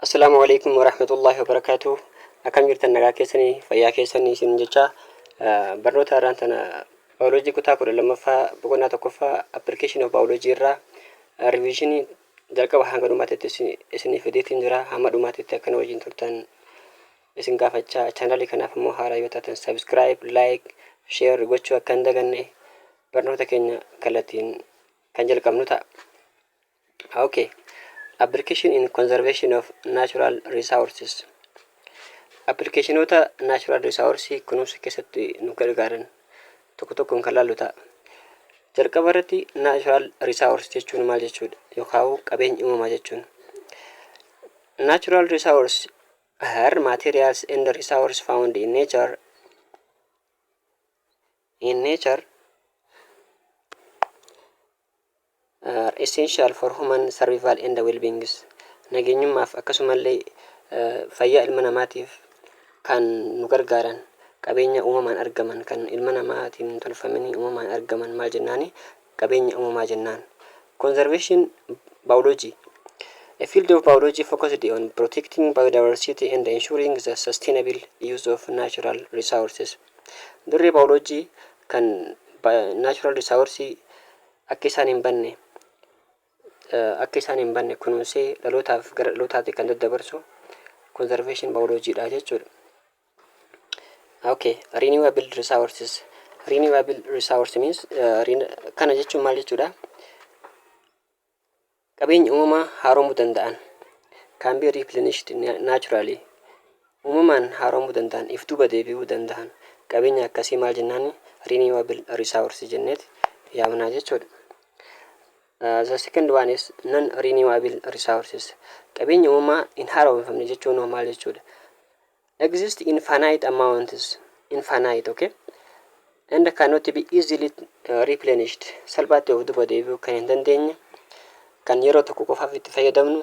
Assalaamu alaikum warahmatullahi wabarakatuh. Akkam jirtan nagaa keessanii fayyaa keessanii isin jecha eh, barnoota har'aan tana baayoloojii kutaa kudha lammaffaa boqonnaa tokkoffaa application of biology irraa eh, revisionii jalqaba hanga dhumaatti isin- isiniif fideetiin jira hamma dhumaatti itti akkana wajjin turtan isin gaafachaa chaanalii kanaaf immoo haaraa yoo taatan subscribe like share gochuu akka hin daganne barnoota keenya kallattiin kan jalqabnu ta'a. Ok application in conservation of natural resources appilikeeshinoota natural resource kunuunsa keessatti nu gargaaran tokko tokkoon kan laallu ta'a. Jalqaba irratti natural resource jechuun maal jechuudha yookaan qabeenya uumamaa jechuun. Natural resource are materials and resource found in nature in nature are essential for human survival and wellbeings nageenyummaaf akkasumallee fayyaa ilma namaatiif kan nu gargaaran qabeenya uumamaan argaman kan ilma namaatiin hin tolfamini uumamaan argaman maal jennaani qabeenya uumamaa jennaan conservation biology A field of biology focused on protecting biodiversity and ensuring the sustainable use of natural resources. Dirree biology kan natural resource akka isaan hin banne akka isaan hin banne kunuunsee dhalootaaf gara dhalootaatti kan daddabarsu conservation biology dha jechuudha. Okay, renewable resources. Renewable resource means uh, kana jechuun maal jechuudha? Qabeenya uumamaa haaromuu danda'an, can be replenished naturally, uumamaan haaromuu danda'an, if duuba deebi'uu danda'an, qabeenya akkasii maal jennaani? renewable resource jenneeti yaamnaa jechuudha. Uh, the second one is non renewable resources. Qabeenya uumamaa hin haaromfamne jechuun hoo maal jechuudha? exist in finite amounts, infinite, ok, and cannot be easily replenished, salphaatti of duba deebi'uu kan hin dandeenye, kan yeroo tokko qofaaf itti fayyadamnu,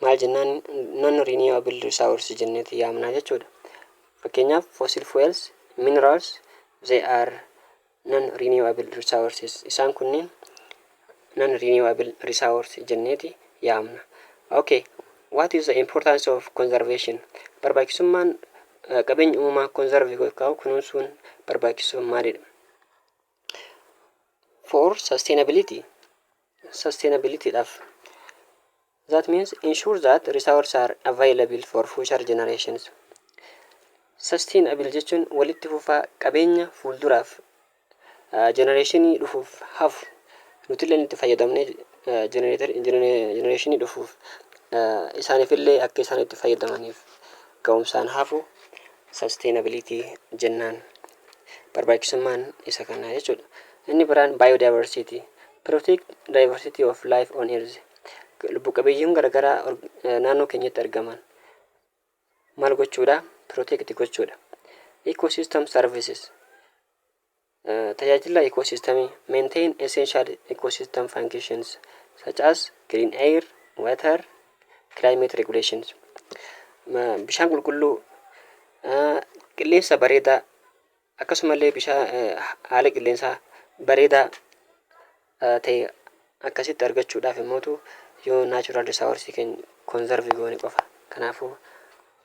maal jennaan non renewable resource jenneeti yaamnaa jechuudha. Fakkeenyaaf fossil fuels, minerals, they are non-renewable resources isaan kunniin non-renewable resource jenneeti yaamna. Ok, what is the importance of conservation? Barbaachisummaan eh, qabeenya uumamaa conserve gochuu kunuunsuun barbaachisoo maalidha? For sustainability, sustainability dhaaf That means ensure that resource are available for future generations. Sustainable jechuun walitti fufaa qabeenya fuulduraaf jenereeshinii dhufuuf hafu nutillee itti fayyadamnee jenereeshinii dhufuuf isaaniifillee akka isaan itti fayyadamaniif ga'umsaan hafu sustainability jennaan barbaachisummaan isa kanaa jechuudha. Inni biraan biodiversity protect diversity of life on earth. lubbu qabeeyyiin garagaraa naannoo keenyatti argaman maal gochuudha protect gochuudha ecosystem services tajaajila ecosystemii maintain essential ecosystem functions such as green air water climate regulations bishaan qulqulluu qilleensa bareedaa Akkasumallee bishaan haala qilleensaa bareedaa ta'e akkasitti argachuudhaaf immootu yoo natural resource keenya conserve goone qofa. Kanaafuu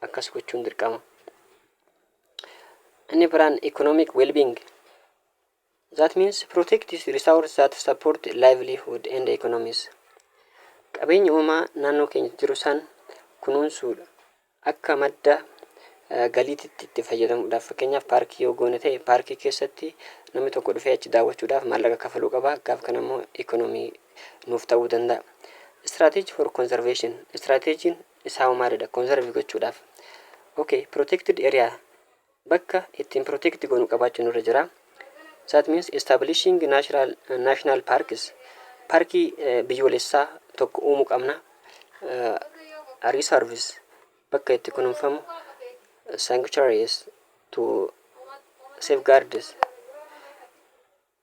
akkas gochuun dirqama. Inni biraan economic well-being. That means protect this resource that support livelihood and economies. Qabeenya uumaa naannoo keenya jiru san kunuunsuudha. Akka madda galiititti itti fayyadamuudhaaf fakkeenyaaf paarkii yoo goone ta'e paarkii keessatti namni tokko dhufee achi daawwachuudhaaf maallaqa kafaluu qaba gaaf kana immoo economy nuuf ta'uu danda'a. Strategy for conservation strategiin isaa hoo maalidha conserve gochuudhaaf okay protected area bakka ittiin protect goonu qabaachuu nurra jira. That means establishing natural national parks parkii biyyoolessaa tokko uumuu qabna. Uh, reserves bakka itti kunuunfamu sanctuaries to safeguards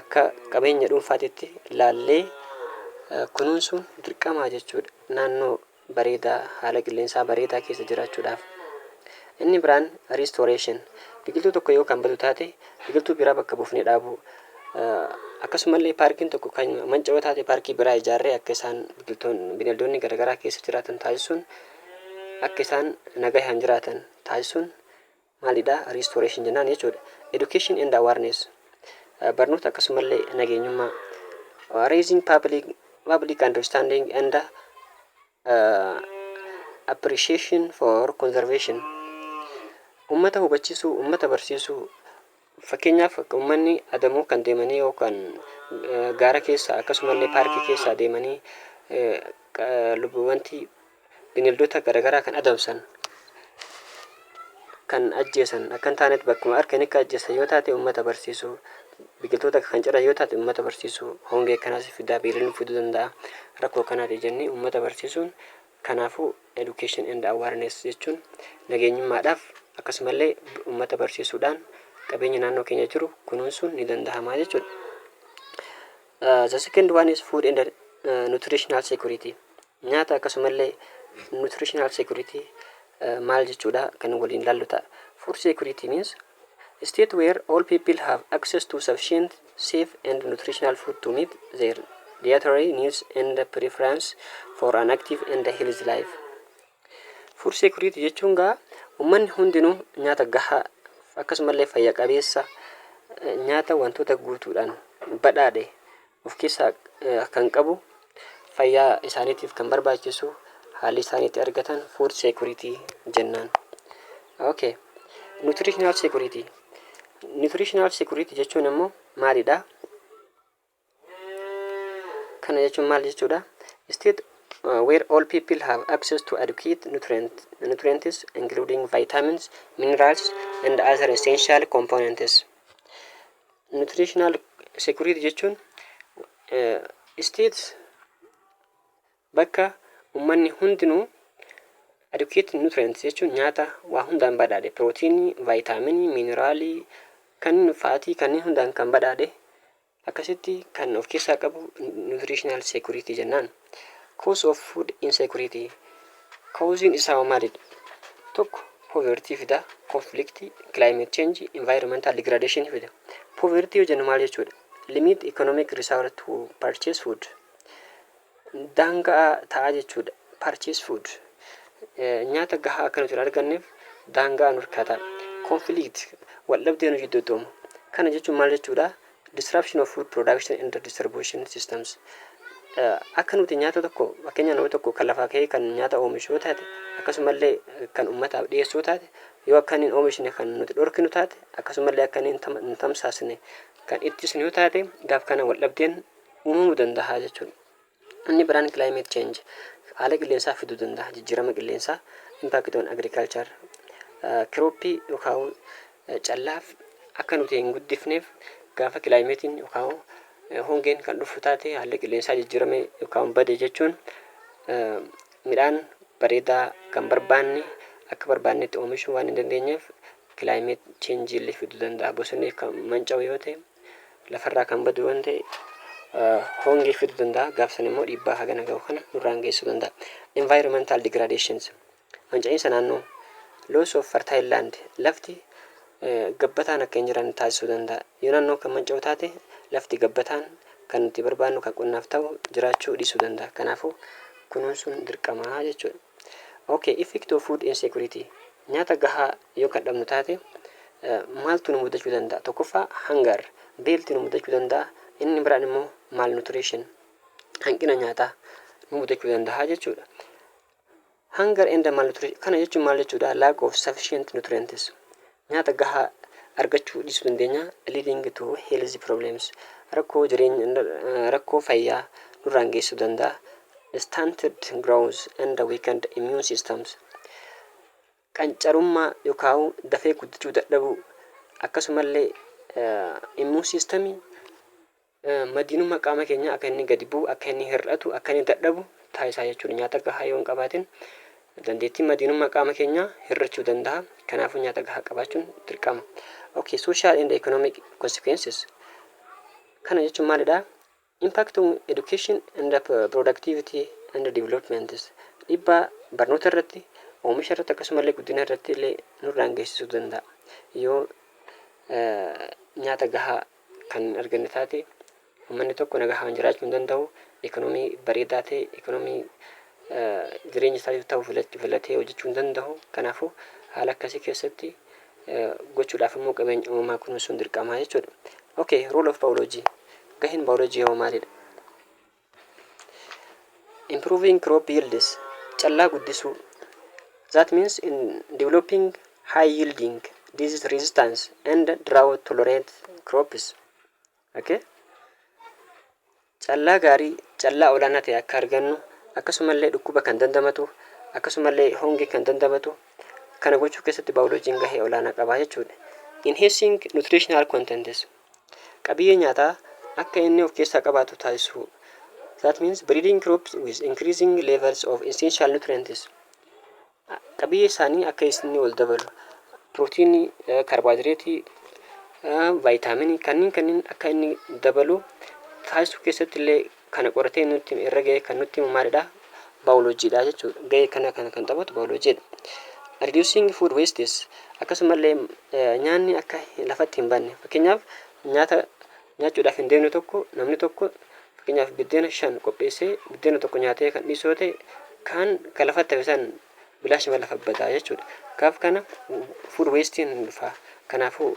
akka qabeenya dhuunfaatitti laallee kunuunsuun dirqamaa jechuudha. Naannoo bareedaa, haala qilleensaa bareedaa keessa jiraachuudhaaf. Inni biraan restoration. Biqiltuu tokko yoo kan badu taate biqiltuu biraa bakka buufnee dhaabuu. Akkasumallee paarkiin tokko kan manca'oo taate paarkii biraa ijaarree akka isaan biqiltoonni bineeldonni garaagaraa keessa jiraatan taasisuun akka isaan nagahaan jiraatan taasisuun maalidha restoration jennaan jechuudha. Education and awareness barnoota akkasumallee nageenyummaa raising public, public understanding and uh, appreciation for conservation ummata hubachiisuu ummata barsiisuu Fakkeenyaaf ummanni adamoo kan deemanii yookaan gaara keessa akkasumallee paarkii keessa adeemanii wanti bineeldota garaagaraa kan adamsan kan ajjeesan akka hin taanetti bakkuma argan akka ajjeesan yoo taate ummata barsiisuu biqiltoota kan ciran yoo taate ummata barsiisuu hongee kanaas fidaa beelanii fiduu danda'a rakkoo kanaati jennee ummata barsiisuun Kanaafuu Education and Awareness jechuun nageenyummaadhaaf akkasumallee ummata barsiisuudhaan qabeenya naannoo keenya jiru kunuunsuun ni danda'ama jechuudha. Uh, the second one is food and uh, nutritional security. Nyaata akkasumallee nutritional security uh, maal jechuudha kan waliin laallu ta'a. Food security means State where all people have access to sufficient, safe and nutritional food to meet their dietary needs and preference for an active and healthy life. Food security jechuun gaa ummanni hundinuu nyaata gahaa akkasumallee fayya qabeessa nyaata wantoota guutuudhaan badhaadhe of keessaa kan qabu, fayyaa isaaniitiif kan barbaachisu, haalli isaan itti argatan food security jennaan. Ok, nutritional security. Nutritional security jechuun immoo maalidha? Kana jechuun maal jechuudha? State uh, where all people have access to adequate nutrient, nutrients including vitamins, minerals and other essential components. Nutritional security jechuun states bakka ummanni hundinuu adequate nutrients jechuun nyaata waa hundaan badhaadhe pirootiinii, vaayitaaminii, miineraalii, kanneen faatii kanneen hundaan kan badhaadhe akkasitti kan of keessaa qabu nutritional security jennaan. Cause of food insecurity, Cause'n isaawoo maalidha? Tokko poverty fida, conflict, climate change, environmental degradation fida. Poverty yoo jennu maal jechuudha? Limit economic resource to purchase food. Daanga'a ta'a jechuudha. Purchase food. Eh, Nyaata gahaa akka nuti hin arganneef daanga'a nurkaa ta'a. Conflict, waldhabdee nu jidduutti uumu. Kana jechuun maal jechuudha? Disruption of food production and distribution systems Akka nuti nyaata tokko fakkeenya nama tokko kan lafaa ka'ee kan nyaata oomishu yoo taate akkasumallee kan uummataaf dhiyeessuu taate yoo akka inni hin oomishne kan nuti dhorkinu taate akkasumallee akka inni hin tamsaasne kan ittisnu yoo taate gaaf kana wal dhabdeen uumamuu danda'a jechuudha. Inni biraan climate change haala qilleensaa fiduu danda'a jijjiirama qilleensaa impact on agriculture kirooppii yookaan callaaf akka nuti hin guddifneef gaafa kilaayimeetiin yookaan hongeen kan dhufu taate haalli qilleensaa jijjiirame yookaan bade jechuun midhaan bareedaa kan barbaanne akka barbaannetti oomishuu waan hin dandeenyeef kilaayimeet cheenjiillee fiduu danda'a bosonni kan manca'u yoo ta'e lafarraa kan badu waan ta'e hongee fiduu danda'a gaaf sana immoo dhiibbaa hagana ga'u kana nurraan geessuu danda'a environmental degradations manca'iinsa naannoo loss of fertile land lafti gabbataan akka hin jiran taasisuu danda'a yoo naannoo kan manca'u taate lafti gabbataan kan nuti barbaannu kan qonnaaf ta'u jiraachuu dhiisuu danda'a kanaafuu kunuunsuun dirqamaa jechuudha Ok effect of food insecurity nyaata gahaa yoo kan dhabnu taate maaltu nu mudachuu danda'a tokkoffaa hangar beelti nu mudachuu danda'a inni biraan immoo malnutrition hanqina nyaataa nu mudachuu danda'a jechuudha hangar and malnutrition kana jechuun maal jechuudha lack of sufficient nutrients Nyaata gahaa argachuu dhiisuu dandeenya, leading to health problems, rakkoo jireenya, rakkoo fayyaa nurraan geessuu danda'a, stunted growth and weakened immune systems, qancarummaa yookaan dafee guddachuu dadhabuu, akkasumallee immune system Madiinummaa qaama keenyaa akka inni gadi bu'u, akka inni hir'atu, akka inni dadhabu taasisaa jechuudha. Nyaata gahaa yoo hin qabaatin dandeettiin madiinummaa qaama keenyaa hir'achuu danda'a. Kanaafuu nyaata gahaa qabaachuun dirqama. Okay, social and economic consequences. Kana jechuun maalidha? Impact on education and productivity and developments. Dhibbaa barnoota irratti, oomisha irratti akkasumallee guddina irratti illee nurraan geessisuu danda'a. Yoo nyaata gahaa kan hin arganne taate ummanni tokko nagahaan jiraachuu hin danda'u. Ikoonomii bareedaa ta'e ikoonomii jireenya isaatiif ta'u filatee hojjechuu hin danda'u. Kanaafuu haala akkasii keessatti gochuudhaaf immoo qabeenya uumamaa kunuunsuun dirqamaa jechuudha. Okay, role of biology. Gaheen biology hoo maalidha? Improving crop yields, callaa guddisuu, that means in developing high yielding, disease resistance and drought tolerant crops. Okay? Callaa gaarii, callaa olaanaa ta'e akka argannu, akkasumallee dhukkuba kan dandamatu, akkasumallee hongee kan dandamatu, kana gochuu keessatti baayoloojiin gahee olaanaa qaba jechuudha. Enhancing nutritional contents, qabiyyee nyaataa akka inni of keessaa qabaatu taasisuu. That means breeding crops with increasing levels of essential nutrients. Qabiyyee isaanii akka isinni ol dabalu. Pirootiinii, kaarboohayidireetii, vaayitaaminii kanneen kanneen akka inni dabalu taasisuu keessatti illee kana qoratee nutti hime irra ga'ee kan nutti himu maalidha? Baayoloojiidha jechuudha. Ga'ee kana kan kan taphatu baayoloojiidha. Reducing food wastes akkasumallee nyaanni akka lafatti hin banne fakkeenyaaf nyaata nyaachuudhaaf hin deemne tokko namni tokko fakkeenyaaf biddeena shan qopheessee biddeena tokko nyaatee kan dhiisu yoo ta'e kaan kan lafatti hafe san bilaashuma lafa badaa jechuudha. Kaaf kana food wasting hin dhufa. Kanaafuu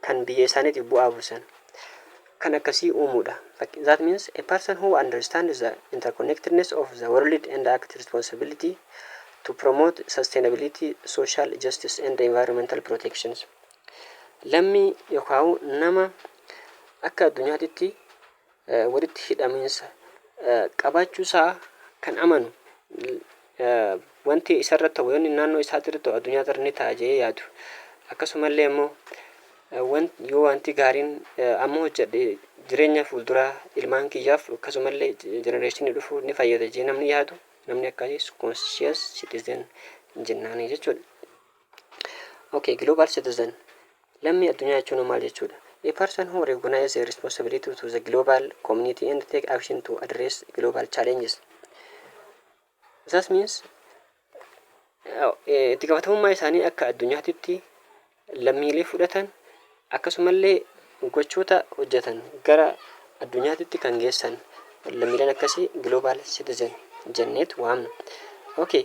kan biyya isaaniitiif bu'aa buusan kan akkasii uumuu dha. Fak. That means, a person who understands the interconnectedness of the world and act responsibility to promote sustainability, social justice and environmental protections. Lammii yokaawu nama akka addunyaatitti walitti hidhamiinsa qabaachuu isaa kan amanu wanti isarra ta'u yoonni naannoo isaatirra ta'u addunyaa irra ni ta'a jedhee yaadu akkasumallee immoo yoo wanti gaariin amma hojjedhe jireenya fuulduraa ilmaan kiyyaaf akkasumallee jenereeshinii dhufu ni fayyada jedhee namni yaadu namni akkasii conscious citizen jennaanii jechuudha. Okay, global citizen. Lammii addunyaa jechuun hoo maal jechuudha? A person who recognize their responsibility to the global community and take action to address global challenges. That means eh, itti gaafatamummaa isaanii akka addunyaatitti lammiilee fudhatan akkasumallee gochoota hojjetan gara addunyaatitti kan geessan lammiileen akkasii global citizen jenneet waamna. Okay,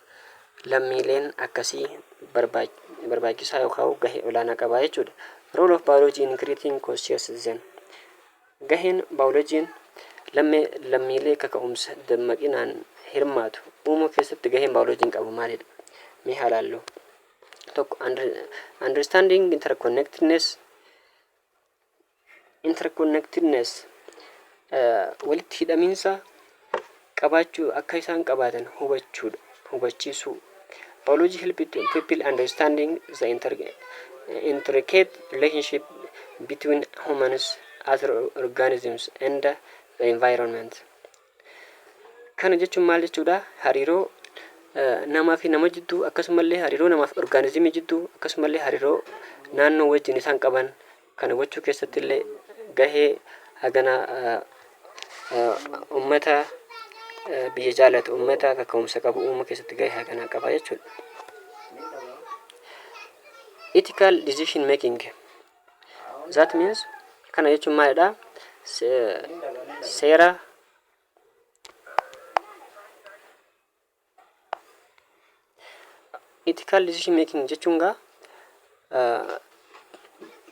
lammiileen akkasii barbaachisaa yookaan gahee olaanaa qaba jechuudha. Role of biology in creating conscious citizen Gaheen baayoloojiin lammiilee kaka'umsa dammaqinaan hirmaatu uumuu keessatti gaheen baayoloojiin qabu maalidha? Mee haa ilaallu. Tokko understanding interconnectedness interconnectedness, walitti hidhamiinsa qabaachuu akka isaan qabaatan hubachuudha, hubachiisuu. Biology help to people understanding the inter, intricate relationship between humans, other organisms and the environment. Kana jechuun maal jechuudha? Hariiroo namaa fi nama jidduu akkasumallee hariiroo namaa fi orgaanizimii jidduu akkasumallee hariiroo naannoo wajjin isaan qaban kana gochuu keessatti illee gahee hagana uummata biyya jaalatu uummata kaka'umsa qabu uumuu keessatti gahee hagana qaba jechuudha. Ethical decision making That means kana jechuun maalidha? Seera ethical decision making jechuun gaa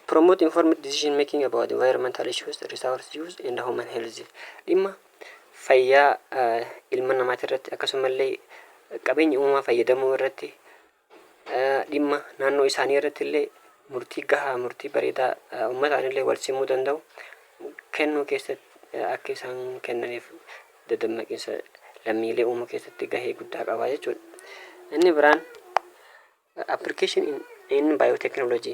promote informed decision making about environmental issues, resource use and human health. Dhimma fayyaa ilma namaati irratti akkasumallee qabeenya uumamaa fayyadamuu irratti dhimma naannoo isaanii irratti illee murtii gahaa, murtii bareedaa ummataan illee wal simuu danda'u kennuu keessatti akka isaan kennaniif dadammaqiinsa lammiilee uumuu keessatti gahee guddaa qaba jechuudha. Inni biraan application in, in biotechnology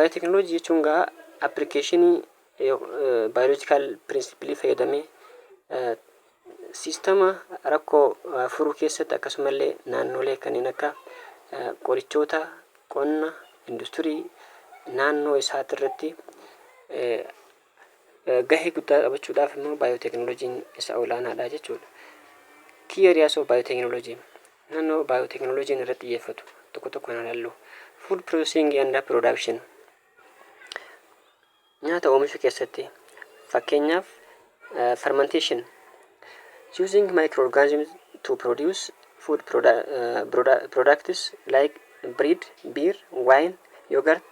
Baayooteeknooloojii jechuun egaa appilikeeshinii baayoloojikaal pirinsipilii fayyadamee siistama rakkoo furuu keessatti akkasuma illee naannoolee kanneen akka qorichoota, qonna, industirii naannoo isaati irratti Gahee guddaa taphachuudhaaf immoo baayooteeknooloojiin isa olaanaadha jechuudha. Key areas of biotechnology naannoo baayooteeknooloojiin irratti xiyyeeffatu tokko tokkoon haa ilaallu. Food processing and production nyaata oomishuu keessatti fakkeenyaaf eh, fermentation using microorganisms to produce food produ- eh, produ- products like bread, beer, wine, yogurt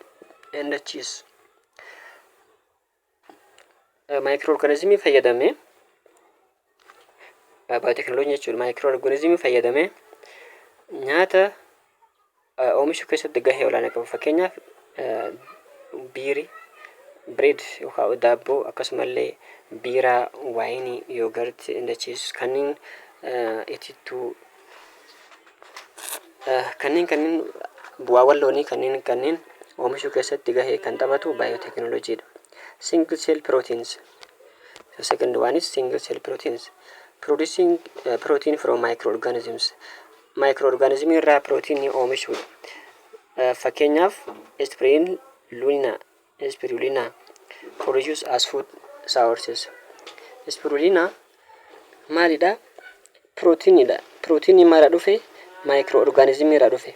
and cheese Maayikiroo orgaanizimii fayyadamee baayooteekinooloojii jechuun maayikiroo orgaanizimii fayyadamee nyaata oomishuu keessatti gahee olaanaa qabu. Fakkeenyaaf biirii, bireed yookaan daabboo akkasumallee biiraa, waayinii, yoogartii, indachiis kanneen itittuu Kanneen kanneen bu'aawwan loonii kanneen kanneen oomishuu keessatti gahee kan taphatu baayootekinooloojii dha. Single cell proteins. The second one is single cell proteins. Producing uh, protein from microorganisms. Microorganism irraa proteinii oomishuu. Uh, fakkeenyaaf, aspirin, luna, Spirulina, Produced as food sources Spirulina maalidha? Pirootiinidha. Pirootiinii maalirraa dhufe? Maayikiroo orgaanizimii irraa dhufe.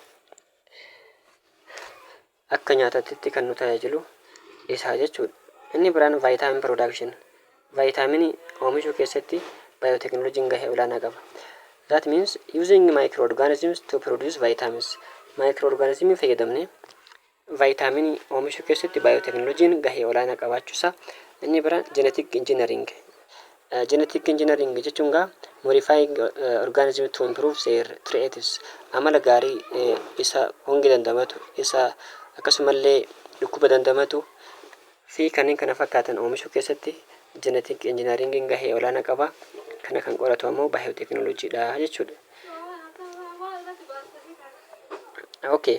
Akka nyaataatti kan nu tajaajilu isaa jechuudha. Inni biraan vaayitaamin production. Vaayitaaminii oomishuu keessatti baayootekinooloojiin gahee olaanaa qaba. That means using microorganisms to produce vitamins. Microorganismii fayyadamnee Vaayitaaminii oomishuu keessatti baayooteknolojiin gahee olaanaa qabaachuusaa inni biraan jenetik injinariing. Jenetik injinariing jechuun gaa modifying organism to improve their traits amala gaarii isa honge dandamatu isa akkasumallee dhukkuba dandamatu fi kanneen kana fakkaatan oomishuu keessatti jenetik injinariingiin gahee olaanaa qaba. Kana kan qoratu ammoo baayooteknolojiidha jechuudha. Okay.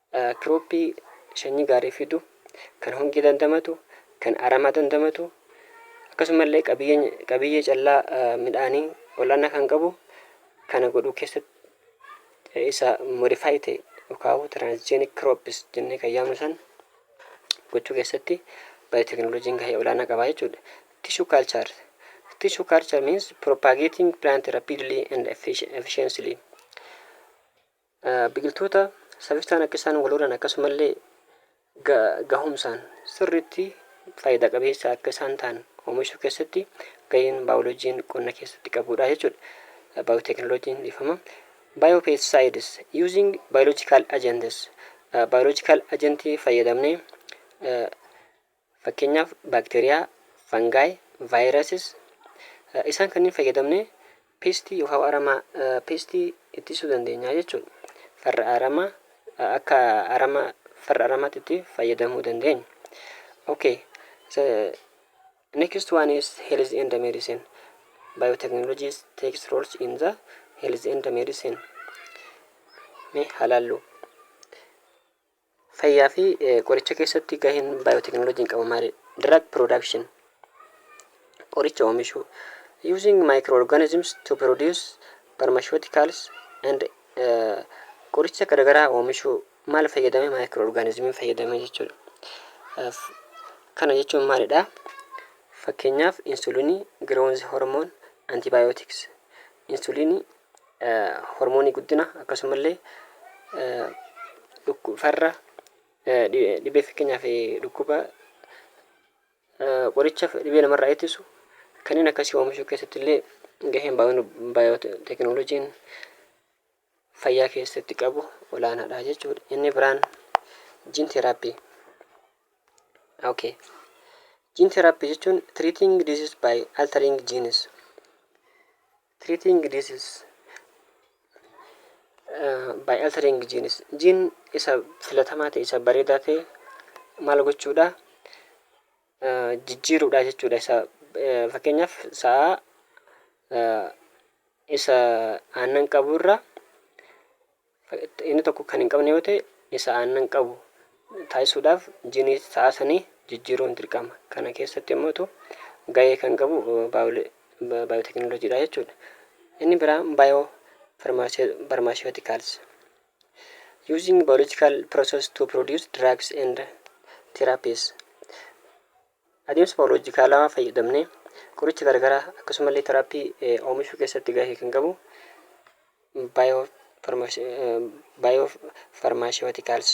Kiroppii sanyii gaarii fidu, kan hongee dandamatu, kan aramaa dandamatu, akkasuma illee qabiyyeen qabiyyee callaa midhaanii ol'aanaa kan qabu kana godhuu keessatti isa modify ta'e yookaan transgenic crops jennee kan yaamnu san gochuu keessatti baayotekinooloojiin gahee olaanaa qaba jechuudha. Tissue culture. Tissue culture means propagating plant rapidly and effic- efficiently. Biqiltoota safisaan akka isaan wal horan akkasumallee ga, gahumsaan sirriitti faayidaa qabeessa akka isaan ta'an oomishuu keessatti gaheen baayoloojiin qonna keessatti qabudha jechuudha. Baayooteeknooloojiin dhiifama. Biopests using biological agents. Biological agentii fayyadamnee Fakkeenyaaf baakteeriyaa, fungi, viruses, isaan kanniin fayyadamnee peestii yookaan aramaa peestii ittisuu dandeenya jechuudha. Farra aramaa akka arama farra aramaatti itti fayyadamuu dandeenya. Okay. So, next one is health and medicine. Biotechnologies takes roles in the health and medicine. Mee halaallu. Fayyaa fi qoricha keessatti gaheen baayooteknooloojiin qabu maali? Drug production Qoricha oomishuu Using microorganisms to produce pharmaceuticals and uh, qoricha garagaraa oomishuu maal fayyadame maayikirooorgaanizimiin fayyadame jechuudha. F, Kana jechuun maalidha? Fakkeenyaaf insulinii, growth hormone, antibiotics. Insulinii hormoonii guddina akkasumallee dhukku farra dhibee fakkeenyaaf dhukkuba qoricha dhibee namarraa ittisu kanneen akkasii oomishuu keessatti illee gaheen baayootekinooloojiin fayyaa keessatti qabu olaanaadha jechuudha. Inni biraan jiin teeraappii. Okay. Jiin teeraappii jechuun treating disease by altering genes. Treating disease by altering genes gene isa filatamaa ta'e isa bareedaa ta'e maal gochuudha jijjiiruudha jechuudha isa fakkeenyaaf sa'a isa aannan qaburra Inni tokko kan hin qabne yoo ta'e isa aannan qabu taasisuudhaaf jiiniitti ta'aa sanii jijjiiruun dirqama. Kana keessatti immootu gahee kan qabu baayooteekinooloojiidha jechuudha. Inni biraa baayoo farmaasiyootikaalsi. Using biological process to produce drugs and therapies. Adeemsa baayoloojikaalawaa fayyadamnee qoricha garagaraa akkasumallee teraappii oomishuu keessatti gahee kan qabu baayoofarmaasiwatikaals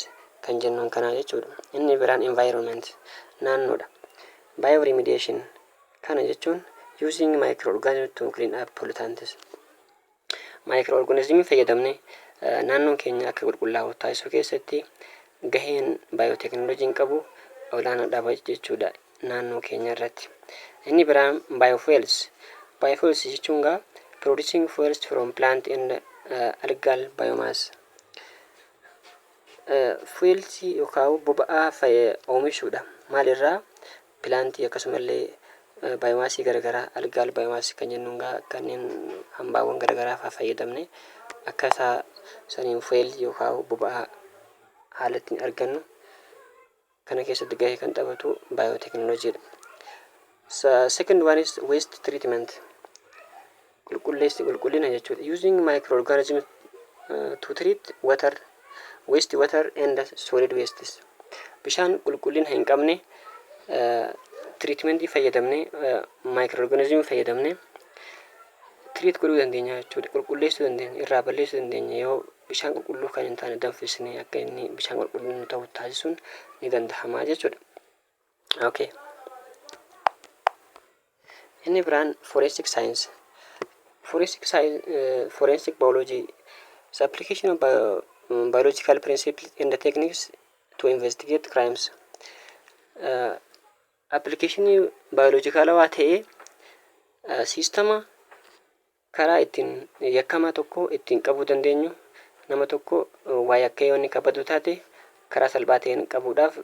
kan jennuun kanaa jechuudha. Inni biraan environment naannoodha. Bioremediation kana jechuun using microorganisms to clean up pollutants. Maayikiroo-orgaanizimii fayyadamnee naannoon keenya akka qulqullaa'u taasisuu keessatti gaheen baayooteekinooloojiin qabu olaanaadha jechuudha naannoo keenya irratti. Inni biraan baayoofuels. Baayoofuels jechuun gaa producing fuels from plant and uh, algal biomass. Fuelsii yookaan boba'aa fayyee oomishuudha. Maalirraa? pilaantii akkasumallee baayoomaasii garagaraa algaal baayoomaasii kan jennuun gaa kanneen hambaawwan garagaraa faa fayyadamne akka isaa saniin fuel yookaa boba'aa haala ittiin argannu kana keessatti gahee kan taphatu baayooteknolojiidha. Second one is waste treatment. Qulqulleessi qulqullina jechuudha. Using microorganisms to treat water, waste water and solid wastes. Bishaan qulqullina hin qabne tiriitimentii fayyadamne maayikirooorganizimii fayyadamne tiriit godhuu dandeenya jechuudha. Qulqulleessuu dandeenya, irraa balleessuu dandeenya yoo bishaan qulqulluu kan hin taane danfisnee akka inni bishaan qulqulluu ta'u taasisuun ni danda'ama jechuudha. Ok. Inni biraan forensic science. Forensic science, eh, forensic biology is application of bio- mm, biological principles and the techniques to investigate crimes. Eh, appilikeeshinii baayolojikaalawaa ta'ee eh, siistama Karaa ittiin yakkamaa tokko ittiin qabuu dandeenyu, nama tokko waa yakkee yoo inni ka badu taate karaa salphaa ta'een qabuudhaaf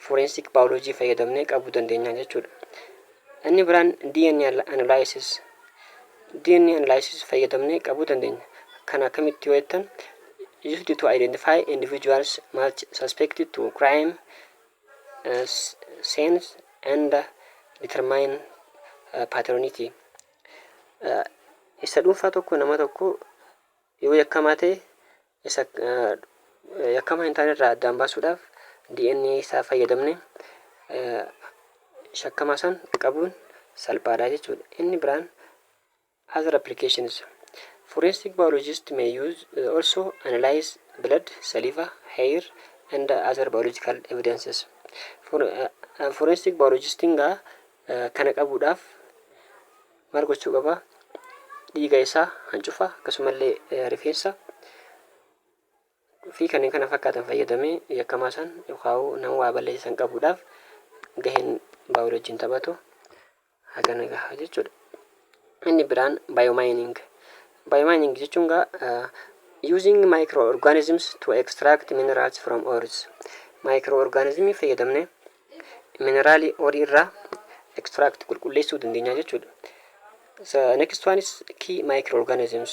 forensic biology fayyadamnee qabuu dandeenya jechuudha. Inni biraan DNA analysis. DNA analysis fayyadamnee qabuu dandeenya. Kan akkamitti yoo jettan used to identify individuals much suspected to crime sense and determine paternity Isa dhuunfaa tokko nama tokko yoo yakkamaa ta'e isa yakkamaa hin taane irraa addaan baasuudhaaf DNA isaa fayyadamne shakkamaa san qabuun salphaadha jechuudha. Inni biraan Other applications, Forensic biologists may use also analyze blood, saliva, hair, and other biological evidences. For, forensic biologist nga kana qabuudhaaf maal gochuu qaba? Dhiiga isaa, hancufa, akkasumallee eh, rifeensa fi kanneen kana fakkaatan fayyadamee yakkamaa san yookaan nama waa balleessan qabuudhaaf gaheen baayoloojiin taphatu Haga na gaha jechuudha. Inni biraan biomining. Biomining jechuun gaa using microorganisms to extract minerals from ores. Microorganismii fayyadamne mineraalii orii irraa extract qulqulleessuu dandeenya jechuudha. Next one is key microorganisms.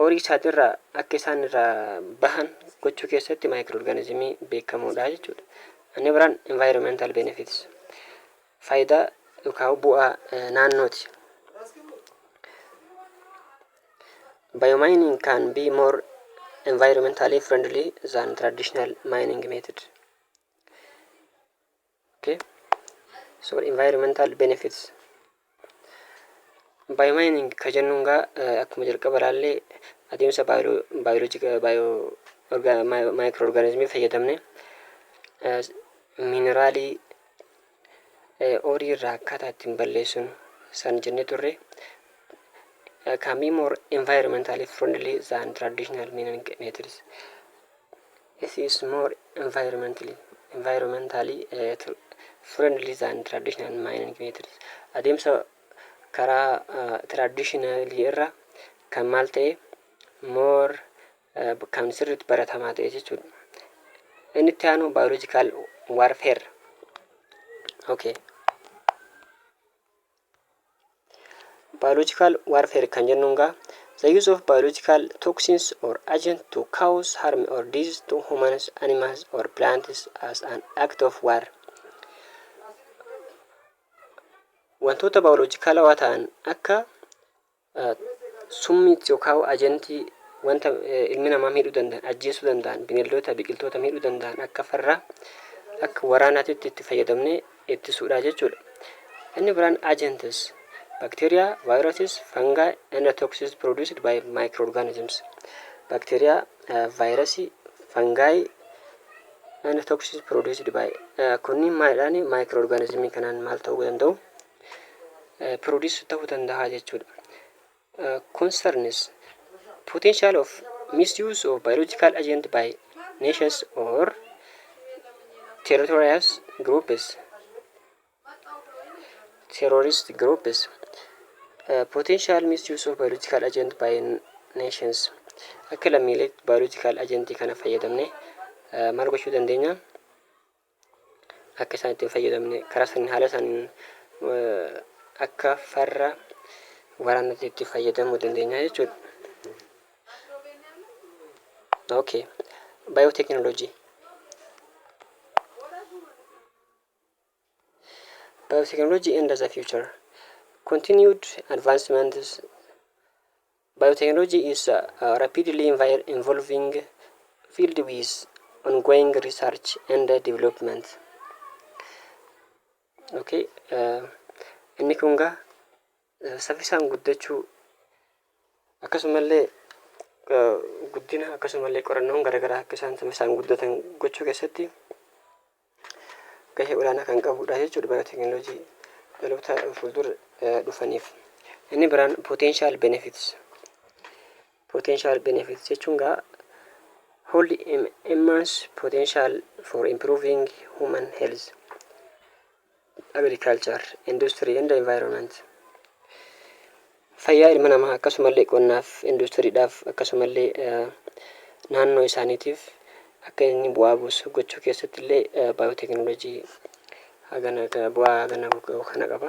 horii isaatirraa akka isaan irraa bahan gochuu keessatti maayikirorgaanizimii beekamoodha jechuudha. Inni biraan environmental benefits faayidaa yookaan bu'aa eh, naannooti. Biomining can be more environmentally friendly than traditional mining method. Okay so environmental benefits biomining ka jennuun gaa eh, akkuma jalqaba ilaallee adeemsa baayoloojika baayo maayikiroo orgaanizimii fayyadamne eh, mineraalii eh, oorii irraa akkaataa ittiin balleessuun san jennee turre eh, can be more environmentally friendly than traditional mining methods It is more environmentally, environmentally, eh, friendly than traditional mining methods. Adeemsa karaa traditional irra kan maal ta'e more eh, kan sirriitti baratamaa ta'e jechuudha. Inni itti aanu biological warfare. Okay. Biological warfare kan jennuun gaa the use of biological toxins or agent to cause harm or disease to humans, animals or plants as an act of war. Wantoota baayoloojikaalawaa ta'an akka Summii yokaahu ajantii wanta ilmi namaa miidhuu danda'an, ajjeesuu danda'an, bineeldoota, biqiltoota miidhuu danda'an akka farraa, akka waraanaatitti itti fayyadamnee ittisuudha jechuudha. Inni biraan agents, bacteria, viruses, fungi and toxins produced by microorganisms. Bacteria, vaayirasii, fungi and toxins produced by kunniin maalidhaan microorganismii kanaan maal ta'uu danda'u? produce ta'uu danda'a jechuudha. concerns potential of misuse of biological agent by nations or territorial groups terrorist groups uh, potential misuse of biological agent by nations akka lammiilee biological agent kana fayyadamne uh, maal gochuu dandeenya akka isaan itti hin fayyadamne karaa saniin haala saniin akka farra waraanatti itti fayyadamuu dandeenya jechuudha. Okay. Biotechnology. Biotechnology and the future. Continued advancements Biotechnology is a rapidly evolving field with ongoing research and development. Okay, inni kun gaa saffisaan guddachuu akkasumallee guddina akkasumallee qorannoon garaagaraa akka isaan saffisaan guddatan gochuu keessatti gahee olaanaa kan qabuudha jechuudha bara teeknooloojii dhaloota fuuldura dhufaniif. Inni biraan potential benefits. Potential benefits jechuun gaa hold immense potential for improving human health. Agriculture, Industry and Environment fayyaa ilma namaa akkasumallee qonnaaf, induustiriidhaaf akkasumallee naannoo isaaniitiif akka inni bu'aa buusu gochuu keessatti illee baayooteekinooloojii hagana bu'aa hagana kana qaba.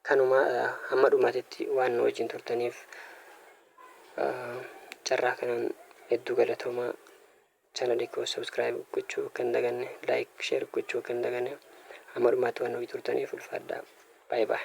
Kanuma hamma dhumaatitti waan nu wajjin turtaniif carraa kanaan hedduu galatoomaa. Channel koo subscribe gochuu akka hin daganne, like, share gochuu akka hin daganne. Hamma dhumaatti waan nu wajjin turtaniif ulfaadhaa. Bye bye.